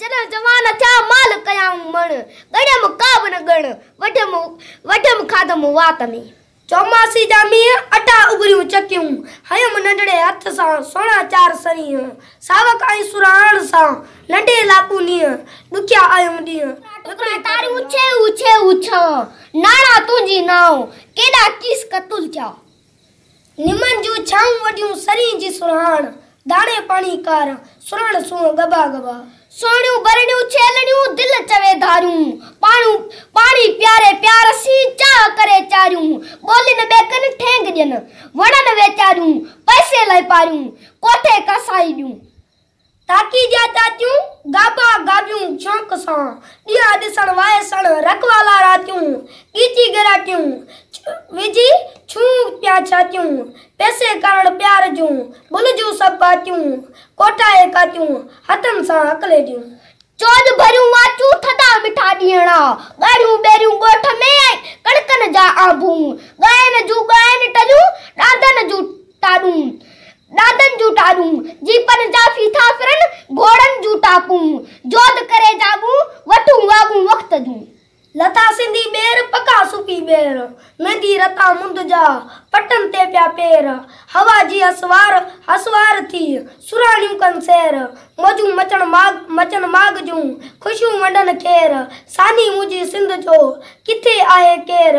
جڏهن جوان ٿيا مال ڪيائون مڻ، ڳڻيم ڪا به نه ڳڻ، وڍيم وڍيم کاڌم وات ۾. چوماسي جا مينهن اٽا اٻريون چڪيون، هنيم ننڍڙي هٿ سان سهڻا چار سرينهن، ساوڪ ۽ سرهاڻ سان ننڍي لاپون نينهن، ڏکيا آيم ڏينهن، ڏکڙي تاريون اڇي اڇي اڇان، ناڻا تنهنجي نانء، ڪيڏا ڪيس قتل ٿيا. نمن جون ڇانهون وڏيون سرين جي سرهاڻ، داڻي پاڻي ڪارا، سرهڻ سونهن ڳڀا ڳڀا. سهڻيون ٻرڙيون ڇيلڙيون، دل چوي ڌاريون، پاڻو پاڻي پياري پيار سين، چاهه ڪري چاريون، ٻولين ٻيڪن ٺينگ ڏين، وڻن ويچاريون، پئسي لاء پاريون، ڪوٺي ڪاسائي ڏيون. تاڪي ڏيا تاتيون، گابا گابيون شوق سان، ڏيا ڏسڻ وائسڻ رڪ والا راتيون، ڳيچي ڳراٽيون وجهي ڇون پيا ڇاتيون، پيسي ڪرڻ پيار جون بل جون سڀ پاتيون، ڪوٺائي ڪاتيون هٿن سان اڪليڏيون. چوڏهن ڀريون واچون ٿڌا مٺا ڏيڻا، ڳاڙهيون ٻيريون ڳوٺ ۾ ۽ ڪڻڪن جا آنبون، ڳائن جون ڳائن ٽليون ڏاندن جون ٽاڏون، ڏاڏن جون ٽارون، جي پن جا ڦيٿا ڦرن، گهوڙن جون ٽاڪون، جوڌ ڪري جاڳون، وٺون واڳون وقت جون. لٿا سنڌي ٻير، پکا سوپي ٻير، ميندي رتا مند جا، پٽن تي پيا پير، هوا جي اسوار، هسوار ٿي، سرهاڻيون ڪن سير، موجون مچڻ ماڳ، مچن ماڳ جون، خوشيون ونڊن کير، سانحي منهنجي سنڌ جو، ڪٿي آهي ڪير؟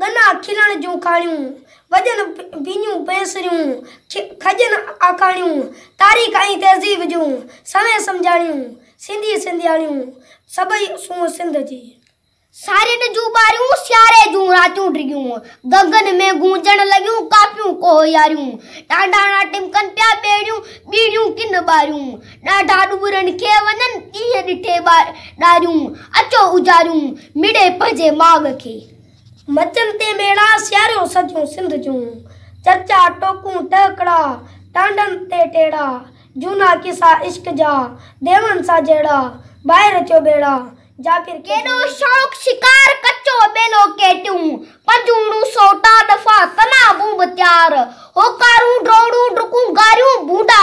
ڳنا کلڻ جون ڪاڻيون، وڄن پينيون پينسريون، کڄن آکاڻيون، تاريخ ۽ تهذيب جون سوين سمجهاڻيون، سنڌي سنڌياڻيون، سڀئي سونهن سنڌ جي. سارين جون ٻاريون، سياري جون راتيون ڊگهيون، گنگن ۾ گونجڻ لڳيون ڪاپيون ڪوهياريون، ٽانڊاڻا ٽمڪن پيا ٻيڙيون، ٻيڙيون ڪن ٻاريون، ڏاڍا ڏٻرن کي وڃن، ڏينهن ڏٺي ڏاريون، اچو اجاريون، مڙي پنهنجي ماڳ کي. مچن تي ميڙا سياريون سڄيون سنڌ جون، چرچا ٽوڪون ٽهڪڙا، ٽانڊن تي ٽيڙا، جهونا قصا عشق جا، ديون سان جهيڙا، باهه رچيو ٻيڙا، جابر کي ڪيڏو شوق شڪار، ڪچو ٻيلو ڪيٽيون، پنجوڻون سوٽا ڏڦا، تنابون به تيار، هوڪارون ڊوڙون ڊڪون، گاريون ڀونڊا،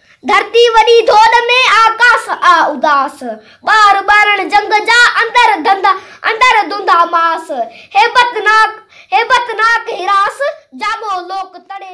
ڌرتي وڏي ڌوڏ ۾ آ ڪاس آ اداس ٻار ٻارڻ جنگ جا اندر ڌنڌا اندر ڌنڌا ماس هيبتناڪ هيبتناڪ هراس جاڳو لوڪ تڙي